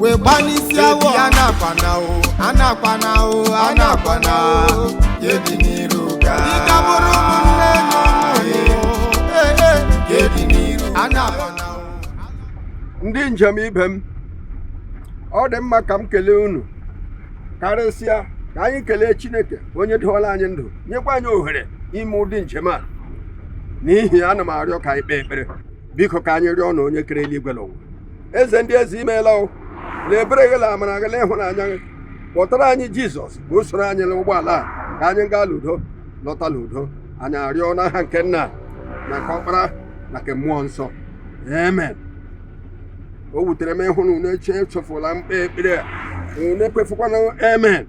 wee gbanisi awọ anakwana o anakwana o anakwana yedi n'iru ga ịgabụrụ ụmụnne na ụmụnne yedi n'iru anakwana o ndị njem ibe m ọ dị mma ka m kelee unu karịsịa ka anyị kelee chineke onye doola anyị ndụ nyekwa anyị ohere ime ụdị njem a n'ihi ya ana m arịọ ka anyị kpee ekpere biko ka anyị rịọ nna onye kere eluigwe na ụwa eze ndị eze i meela o na ebere gị na amara gị na ịhụnanya gị kpọtara anyị jizọs ka o soro anyị n'ụgbọala a ka anyị gaa n'udo lọta n'udo anyị arịọ n'aha nke nna na nke ọkpara na nke mmụọ nsọ amen o wutere m ịhụ na unu eche echefula m kpee ekpere a unu ekwefukwana amen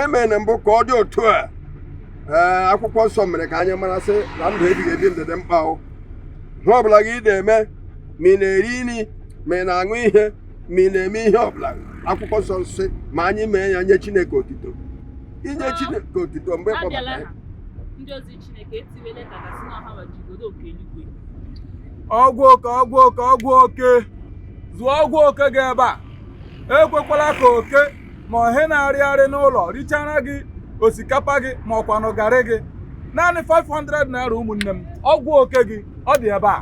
amen mbụ ka ọ dị otu a ee akwụkwọ nsọ mere ka anyị mara sị na ndụ ebighị ebi ndụ dị mkpa o ihe ọbụla gị na-eme ma ị na-eri nri ma ị na-aṅụ ihe ma ị na-eme ihe ọbụla akwụkwọ nsọ sị ma anyị mee ya nye Chineke otito inye Chineke otito mgbe kpọbata ya ndị ozi Chineke etiwele ka gasị na ọha wajigodo oke eluigwe ọgwụ oke ọgwụ oke ọgwụ oke zụọ ọgwụ oke gị ebe a ekwekwala ka oke ma ọ ihe na-arịgharị n'ụlọ richaara gị osikapa gị ma ọkwanụ garị gị naanị 500 naira ụmụnne m ọgwụ oke gị ọ dị ebe a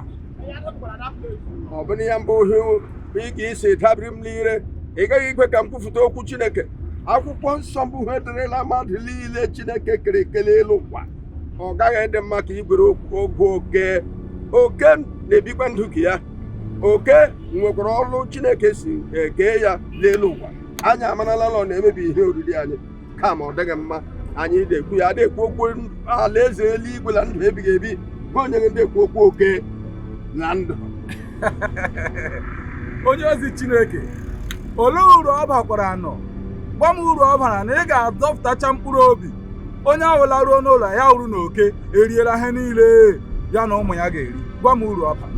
ọ bụ na ya mbụ ihe ị ga-esi dabiri m n'ire ị gaghị ikwe ka m kwupụta okwu chineke akwụkwọ nsọ mbụ ihe dịrịla mmadụ niile chineke kere eke n'elu ụwa ọ gaghị ịdị mma ka i were ọgwụ oke oke na-ebikwa ndụ nke ya oke nwekwara ọrụ chineke si kee ya n'elu ụwa anyị amarala na ọ na-emebi ihe oriri anyị kama ọ dịghị mma anyị na-ekwu ya na-ekwu okwu alaeze eluigwe na ndụ ebighị ebi bụ onye na-ekwu okwu oke na ndụ onye ozi chineke olee uru ọ bakwaranụ gwa m uru ọ bara na ị ga-adọpụtacha mkpụrụ obi onye ahụ laruo n'ụlọ ya hụrụ na oke eriela ihe niile ya na ụmụ ya ga-eri gwa m uru ọ baa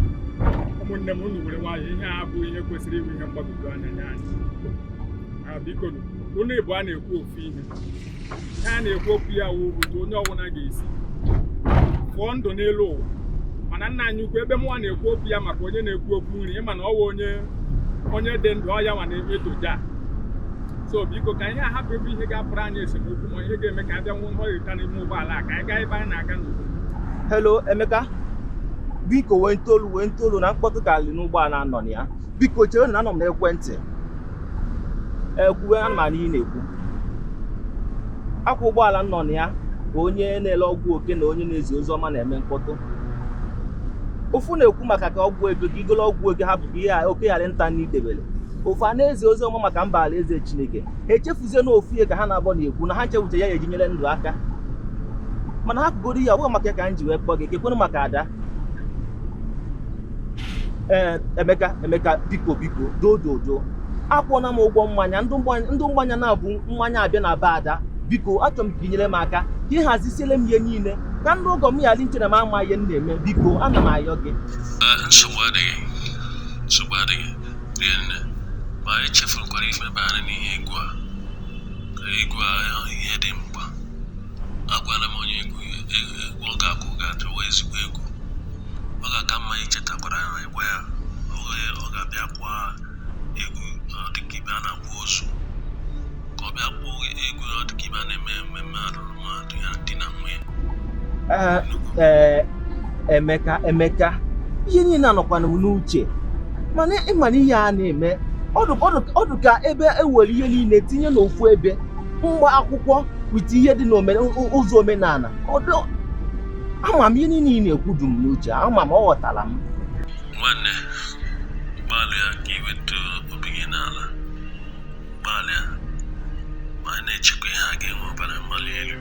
ụmụnne m unu were nwayọ ihe a bụ ihe kwesịrị ịbụ ihe mgbagwoju anya nye anyị Ah, biko nụ, unu ịbụa na-ekwu ofu ihe ihe a na-ekwu okwu ya wụ otu onye ọbụla ga-esi fụọ ndụ n'elu ụwa mana nna anyị ukwu ebe mụnwa na-ekwu okwu ya maka onye na-ekwu okwu nri ị ma na ọ wụ onye onye dị ndụ ọ ya nwa na-eto Jah so biko ka anyị hapụ ebe ihe ga-abụrụ anyị esemokwu ma ihe ga-eme ka a bịa nwee nghọrịta n'ime ụgbọala a ka anyị gaa ebe anyị na-aga n'udo Hello, Emeka. Biko wenite olu wenite olu na mkpọtụ karịrị n'ụgbọala m nọ na ya. Biko chere na anọ m n'ekwentị. Kwuwe ana m anụ ihe ị na-ekwu. Ọ kwa ụgbọala m nọ na ya bụ onye na-ele ọgwụ oke na onye na-ezi ozi ọma na-eme mkpọtụ. Ofu na-ekwu maka ka ọgwụ ego ka i golo ọgwụ oke hapụ ka ihe a- oke ghara ịta nni i debere. ofu a na-ezi ozi ọma maka mba alaeze chineke ha echefuzie na ofu ihe ka ha na-abọ na-ekwu na ha nchewuche ya ya eji nyere ndụ aka mana ha pụgoro ya ọ maka ya ka m ji wee kpọọ gị kekwenụ maka ada ee emeka emeka biko biko doo doo doo akwụọna m ụgwọ mmanya ndị mmanya na-ebu mmanya abịa na be ada biko achọrọ m ka inyere m aka ka ị hazisiele m ihe niile ka ndị ọgọ m ghara iche na m ama ihe m na-eme biko ana m ayọ gị ah, rienne ma anyị chefurukwara ife banyere n'ihe egwu a ka egwu a ihe dị mkpa agwala m onye egwu ya egwu egwu ọ ga-akụ ga-adịwa ezigbo egwu ọ ga-aka mma ichetakwara ya na ịgwa ya ọ ga- ọ ga-abịa kụwa egwu ọ dịka ebe a na-akwa ozu ka ọ bịa kpọọ egwu ọ dịka ebe a na-eme mmemme alụrụ Eh, eh, emeka emeka ihe niile a nọkwanụ m n'uche mana ịma na ihe a na-eme ọ dụ ka ebe ewere ihe niile tinye n'ofu ebe mgba akwụkwọ with ihe dị n'ụzọ omenala ọdụ ama m ihe niile ị na-ekwu dum n'uche ama m o aghọtara m nwanne gbalịa ka iweta obi gị n'ala Gbalịa ma na-echekwa ihe a ga-enwe ọbara mgbali elu.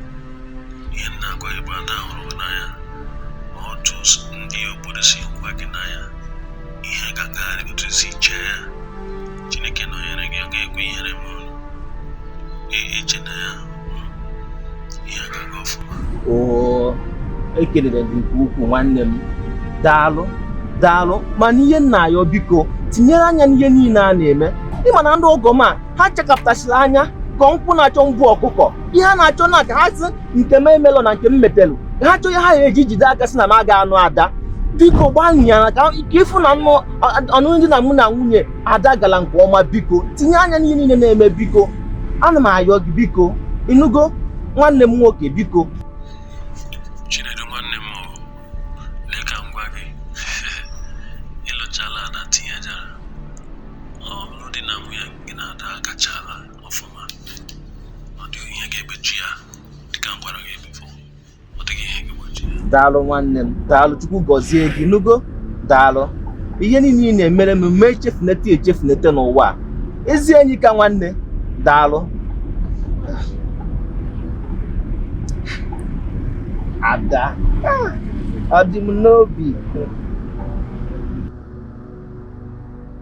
Ihe m na-agwa gị bụ ada hụrụ gị n'anya ma otu ndị obodo si hụkwa gị n'anya ihe ga-agarịrị otu i si chee ya Chineke nọnyere gị ọ ga-ekwe ihere ma ọlị. Ee, echena ya oo ekelere gị nke ukwuu nwanne m daalụ daalụ mana ihe m na-ayọ biko tinyere anya n'ihe niile a na-eme ịma na ndị ọgọ m a ha chakapụtasịrị anya ka nkwọ na-achọ nwa ọkụkọ ihe ha na-achọ na ka ha si nke m emelụ na nke m mepelụ ka ha chọọ ihe ha ga-eji jide aka si na m aga anụ ada biko gbalịa ka ịfụ na ọnụnụ di na mụ na nwunye ada gara nke ọma biko tinye anya n'ihe niile na-eme biko ana m ayọ gị biko ịnụgo nwanne m nwoke biko chinedu nwanne m ọ lee ka m gwa gị ịlụchala na tinyejara ọlụlụ di na nwunye gị na ada agachaala ọfụma ọ dịghị ihe ga-egbochi ya dịka m gwara gị daalụ nwanne m daalụ chukwu gọzie gị nugo daalụ ihe niile ị na-emere m mee echefunete echefunete n'ụwa ezi enyi ka nwanne daalụ ada ah, ọ dị m n'obi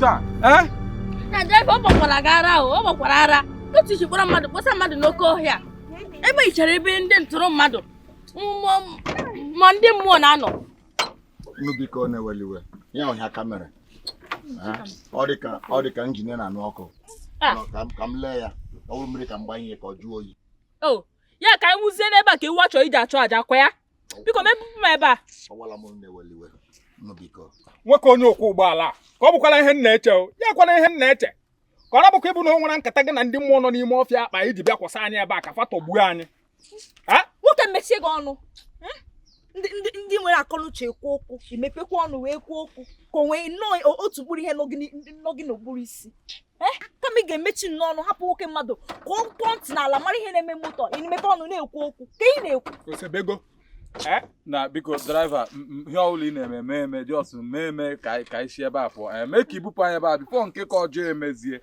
taa eh? na draiva ọ gbakwara gị ara ahụ ọ gbakwara ara otu i ji kpọrọ mmadụ kpọsa mmadụ n'oke ọhịa ebe i chere ebe ndị ntọrọ mmadụ ma ndị mmụọ na-anọ unu biko unu ewela iwe ya ọhịa kamera ọ dị ka ọ dị ka njin na-anụ ọkụ ah. ka m lee ya ọ bụrụ mmiri ka m gbanye ka ọ jụọ oyi oh, ya ka anyị wụzie n'ebe a ka iwu achọ iji achụ aja kwa ya biko mepụ m ebe a nwoke onye ọkwọ ụgbọala ka ọ bụkwala ihe m na-eche ya abụkwana ihe m na-eche ka ọ bụkwa ịbụ na o nwere nkata gị na ndị mmụọ nọ n'ime ọfịa akpa iji bịa kwụsị anyị ebe a ka fa tagbuo anyị nwoke mechie gị ọnụ hmm? ndị nwere akọnuche ekwu okwu i mepekwa ọnụ wee kwuo okwu ka o nwee nnọọ otu mkpụrụ ihe nọ gị n'ụbụrụ isi eh? kama ị ga-emechi nnọọ ọnụ hapụ nwoke mmadụ ka ọ kpọọ ntị n'ala mara ihe na-eme moto ị na-emepe ọnụ na-ekwu okwu ka ị na-ekwu Eh? nna biko draiva ihe ọbụla ị na-eme mee eme jọs mee eme ka anyị si ebe a pụọ eh, mee ka i bupụ anyị ebe a bifo nke ka ọjọọ emezie eh?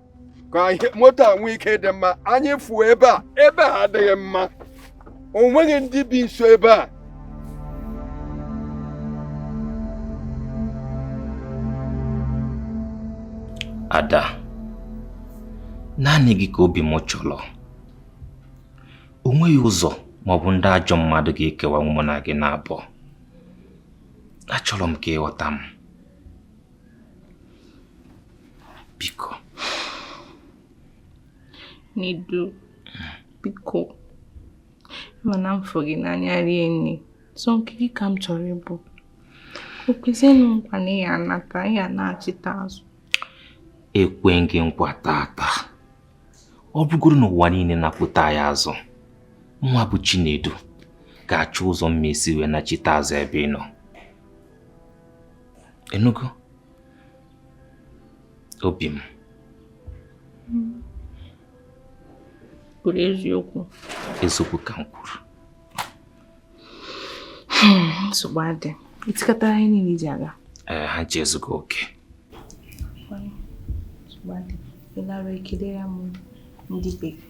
ka moto a nwee ike dị mma anyị fuo ebe a ebe a adịghị mma o nweghị ndị bi nso ebe a ada naanị gị ka obi m chọrọ o nweghị ụzọ maọbụ ndị ajọ mmadụ ga-ekewa mụ na gị n'abụọ achọrọ m ka ị ghọta m biko Nedu biko ị ma na m fụ gị n'anya rinne sọ nke gị ka m chọrọ ịbụ kwezienụ m nkwa na ị ya-anata ị ya-anachita azụ ekwe m gị nkwa taata ọ bụgodu na ụwa niile na-apụta ya azụ mụwa bụ Chinedu ga-achọ ụzọ m ga-esi wee nachite azụ ebe ị nọ ị nụgo obi m kwuru eziokwu eziokwu ka m kwuru hmm, nsogbu adị i tikọta ihe niile i ji aga ee ha ncha ezugo oke ịlara ekele ya m ndị bekee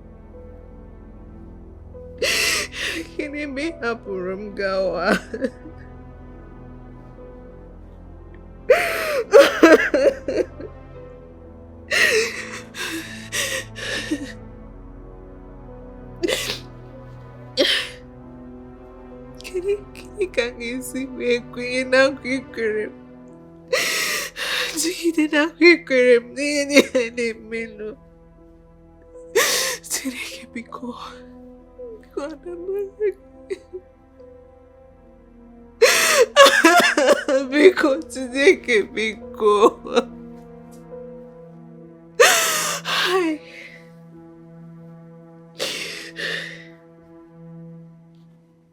gịnị mgbe ị hapụrụ m gawa gịnị ka m ga-esi wee kwenye na nkwa i kwere m jigide na nkwa i kwere m n'ihe niile na-emenụ Chineke biko biko adamara biko Chineke biko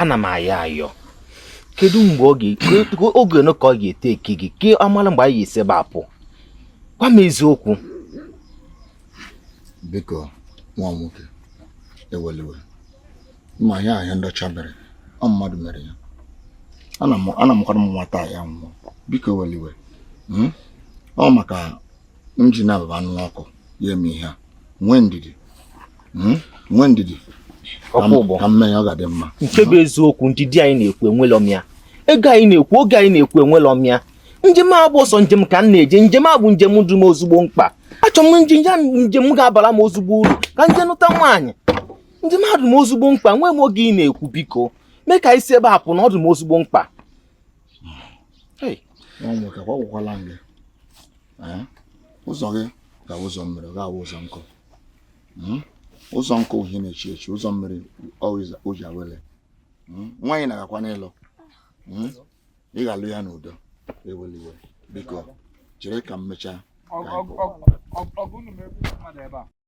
ana m ayọ ayọ kedu mgbe ọ ga-ekwe oge ole ka ọ ga-ete eke gị ka a mala mgbe anyị ga-esi ebe a pụọ gwa m eziokwu biko nwa m nwoke ewele iwe ma ya ahịa ndị ọcha mere ọ mmadụ mere ya ana m ana m kwara m nwata ya nwụọ biko ewele iwe hmm? ọ maka injin a bụ anụ ọkụ ya eme ihe a nwee ndidi Hmm? nwee ndidi Ọkụ ụgbọ. ka m mee ya ọ ga-adị mma nke bụ eziokwu ndidi anyị na-ekwu enwelọ m ya ego anyị na-ekwu oge anyị na-ekwu enwelọ m ya njem a bụ ọsọ njem ka m na-eje njem a bụ njem dụ m ezigbo mkpa achọ m njem ya njem ga-abara m ezigbo uru ka m jee nụta nwaanyị njem a dụ m ezigbo mkpa nwee m oge ị na-ekwu biko mee ka anyị si ebe a pụ na ọ dụ m ezigbo mkpa nwa nwoke agwakwala m gị ụzọ gị ga-awụ ụzọ mmiri ga-awụ ụzọ nkụ hmm? ụzọ nkụ wụ ihe na-echi echi ụzọ mmiri ọ ije awele hmm? nwaanyị ị na-agakwanụ ịlụ hmm? ị ga-alụ ya n'udo ewele iwe biko chere ka m mechaa ka anyị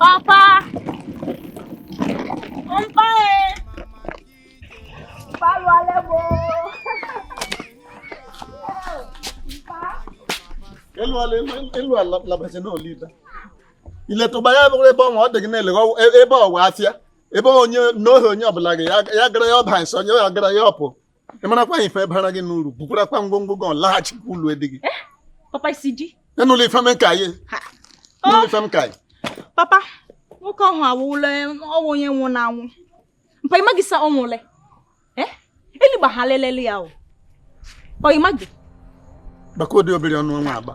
Papa! Papa e! Palu alebo! Elu ala elu ala labasị na olive. Iletụba ya bụrụ ebe ọnwa ọ dị gị na-elegha ebe ọwa afịa ebe onye n'ohi onye ọbụla gị ya gara ya ọba nsọ onye ya gara ya ọpụ ị marakwa anyị ife bara gị uru bukwarakwa ngwongwo gị laghachikwa ụlọ edi gị eh, papa isi di enụla ife m ka anyị enụla ife m ka anyị papa nwoke ahụ anwụla anwụ onye nwụla anwụ mpa ịmaghị sa ọ nwụle eh? eligba ha lelele ya o ọ ịmaghị gbakọ ụdị obere ọnụ ọnwa agba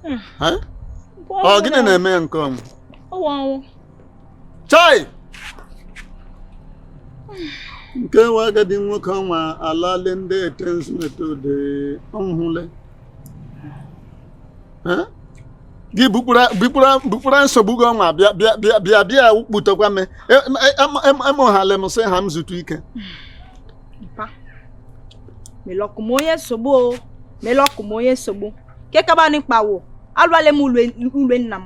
hmm. ọ gịnị na-eme ya nke ọnwụ ọnwụ chai nke nwa agadi nwoke ọnwa alali ndị etensmetode ọhụle gị bupụra nsogbu gị ọnwa bịa bịa bịa bịa bịa kputekwa m emụghali m sị ha m zutụ ike melọkụ m onye nsogbu o melọkụ m onye nsogbu nke kabanị kpawo alụwale m ule nna m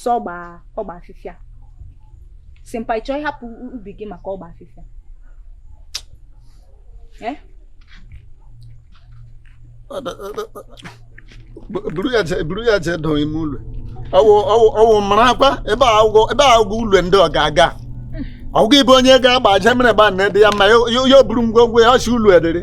sọ ọgba ọgba afịfịa sị mpa ị chọ ịhapụ ubi gị maka ọgba afịfịa eh? buru ya jee dọọ ime ụlọ ọwụ mara akwa ebe a agwụgwọ ụlọ ndị ọ ga-aga ọgwụgwọ ịbụ onye ga-agba aja mere gba nne dị ya mma ya o buru ngwongwo ya ọchị ụlọ edere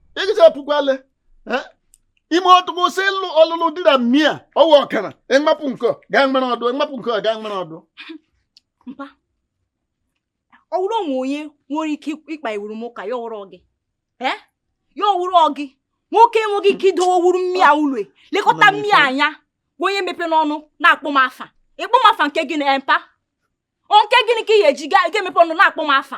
ịgịcha pụkwale ime ọtụgụ si ịlụ ọlụlụ di na mmia ọwụ ọkara ịmapụ nke gaa nwere ọdụ ịmapụ nke gaa nwere ọdụ ọ wụrụ o nwe onye nwere ike ịkpawuru m ụka ya wụrụ gị ya wụrụ gị nwoke enweghị ike idowe wuru mmia ụlọ elekọta mmia anya bụ onye mepe n'ọnụ na-akpọ m afa ịkpọ m afa nke gịnị mpa nke gịnị ka ị ga-eji ga-emepe ọnụ na-akpọ m afa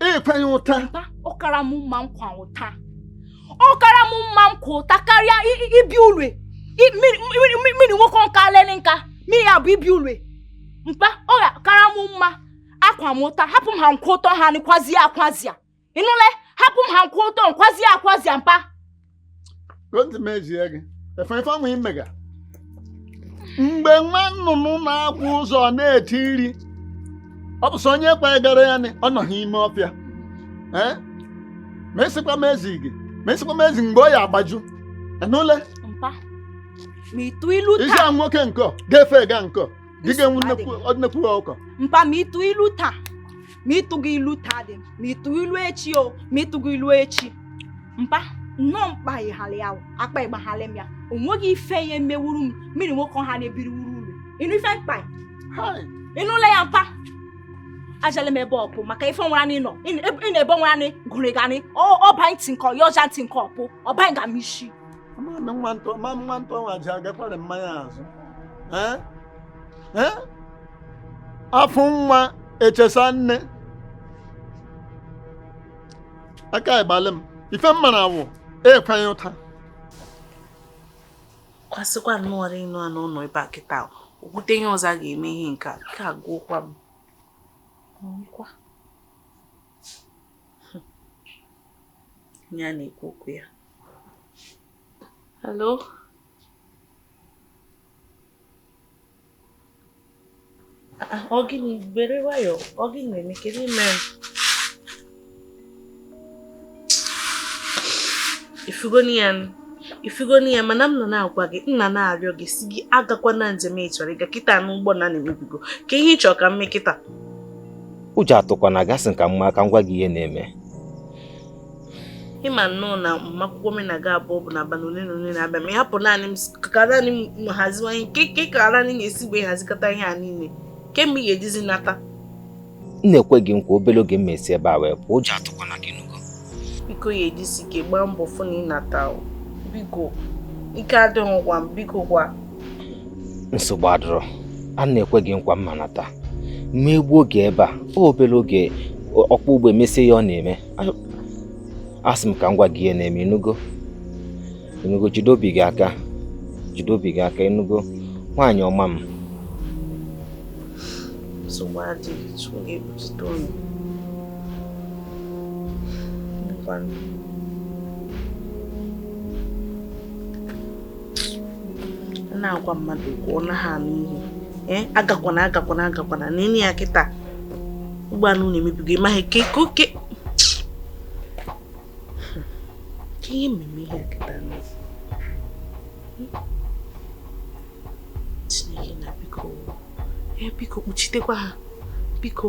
ịkwa ụta ọ kara m mma nkwa ụta ọ kara m mma nkwa ụta karịa ibi ulwe mmiri nwoke nka lele nka mmiri ya bụ ibi ulwe mpa ọ kara m mma akwa m ụta hapụ m ha nkwa ụta ha nkwazie akwazia ị nụle hapụ m ha nkwa ụta nkwazie akwazia mpa ntị m ezie gị efe ife ọnwụ imega mgbe nwa nnụnụ na-akwụ ụzọ na-ete iri ọ bụ sị onye kwagara ya nị, ọ nọha ime ọfịa ee ma esikwa m ezi gị ma esikwa m ezi mgbe ọ ya agbaju ị nụle mpa ma ị tụ ilu isi taa a nwoke nke ọ ga-efe ga nke ọ dịga nnekwu nnekwu ọkụkọ mpa ma ị tụ ilu taa ma ị tụgo ilu taa dị ma ị tụ ilu echi o ma ị tụgo ilu echi mba nnọọ mpa ịghara ya akpa ịgbagharị m ya o nweghị ife ya emewuru m mmiri nwoke ọha na-ebiri wuru uru ị nụ ife m kpa ị nụla ya mpa ajala m ebe ọpụ maka ife nwara n'ịnọ ịnọ ebe nwara n'ị gụrụ gani ọba ntị nke ọya ọja ntị nke ọpụ ọba nga m isi nwata nwa ji agakwara mmanya azụ afọ nwa echesa nne aka ịgbalị m ife mma na awụ ekweghị ụta kwasịkwa nnọọ ịnụ a n'ụlọ ebe a kịta o kwute ihe ọzọ a ga-eme ihe nke a ka agụkwa m ọ wụkwa ya na-ekwu okwu ya hello ọ gịnị were nwayọọ ọ gịnị na-eme kedu ime ị fụgonị ya ị fụgonị ya mana m nọ na-agwa gị nna na-arịọ gị sị gị agakwa na njem ị chọrọ ịga kịta n'ụgbọ ala emebigo kee ihe ị chọrọ ka m mee kịta ụjọ atụkwana gị sị ka mma ka m gwa gị ihe na-eme ị ma nnọọ na agbamakwụkwọ mụ na gị abụọ bụ na abalị ole na ole na-abịa ma ị hapụ naanị m ka naanị m haziwanye nke nke ka naanị ga-esi wee hazikọta ihe a niile kee mgbe ị ga-ejizi nata m na-ekwe gị nkwa obere oge m mesi ebe a wee pụọ ụjọ atụkwana gị ịnụgo biko ya ejisi ike gbaa mbọ fụ na ị nata biko ike adịghịkwa m biko gwa nsogbu adịrọ a na-ekwe gị nkwa mma nata m ma egbu oge ebe a obere oge ọkpọ ụgbọ emesie ya ọ na-eme asị m ka m gwa gị ihe na-eme ịnụgo ịnụgo jide obi gị aka jide obi gị aka ịnụgo nwaanyị ọma m nsogbu adịghị Chukwu ga-ekpuchite unu na-agwa mmadụ okwu ọ naghị anụ ihe eh, agakwana agakwana agakwana na enyi ya kịta ụgbọala unu emebigo ị maghị ke ka oke ka ihe mmemme ihe kịta n'ezi Chineke nna biko ya biko kpuchitekwa ha biko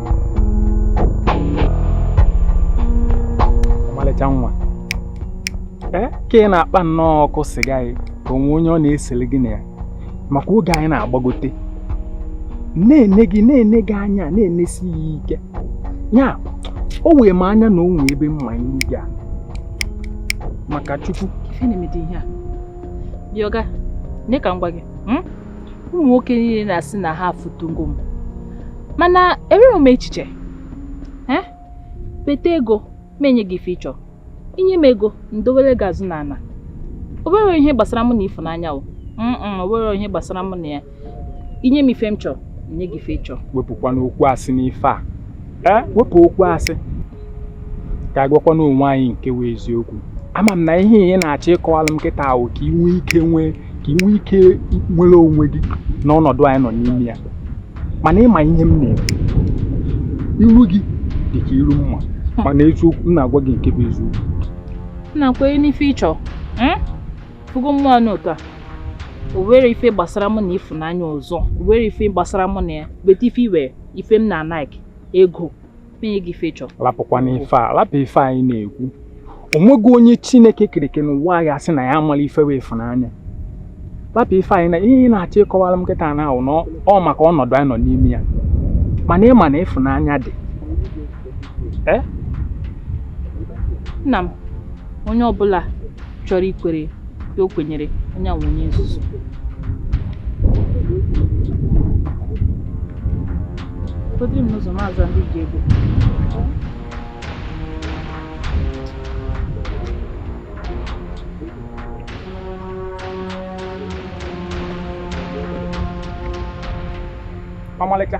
ọmalịcha nwa nee ka ị na-akpa nnọọ ọkụ sịga gị ka onwe onye ọ na-esere gị na ya maka oge anyị na-agbagote na-ene gị na-ene gị anya na-enesi ya ike ya o wee m anya na o nwee ebe m ma iru gị a maka chukwu Ife na-emede ihe a. Oga, nee ka m gwa gị. hmm? ụmụ nwoke niile na-asị na ha afụtụgo m mana enwere m echiche beta ego m enye gị ife ị chọ i nye m ego m dowere gị azụ n'ala o nwerọ ihe gbasara mụ na ịfụnanya o o nwerọ ihe gbasara mụ na ya i nye m ife m chọrọ enye gị ife ị chọ wepụkwanụ okwu asị n'ife a e, wepụ okwu asị ka a gwakwanụ onwe anyị nke wụ eziokwu ama m na ihe ị na-achọ ịkọwalụ m kịta wụ ka ị nwee ike nwee ka ị nwee ike nwere onwe gị n'ọnọdụ anyị nọ n'ime ya mana ị ma ihe m na-eme ilu gị dị ka ilu m ma mana eziokwu m na-agwa gị nke bụ eziokwu na-akwere n'ife ị chọ hmm? fugo mmụọ anụ ụtọ a o nwerọ ife gbasara mụ na ịfụnanya ọzọ o nwerọ ife gbasara mụ na ya bete ife i nwe ife m na-ana gị ego rapụkwana ife a rapụ ife a ị na-ekwu onweghị onye chineke kere eke n'ụwa ya sị na ya amarọ ife wụ ịfụnanya rapụ ife anyị na ihe ị na-achọ ịkọwara m kịta wụ na ọ maka ọnọdụ anyị nọ n'ime ya mana ị ma na ịfụnanya dị nna m onye ọbụla chọrọ ikwere ka o kwenyere onye wụ onye nzuzu Kodiri m n'ụzọ maazị ndị ji ego ọmalịcha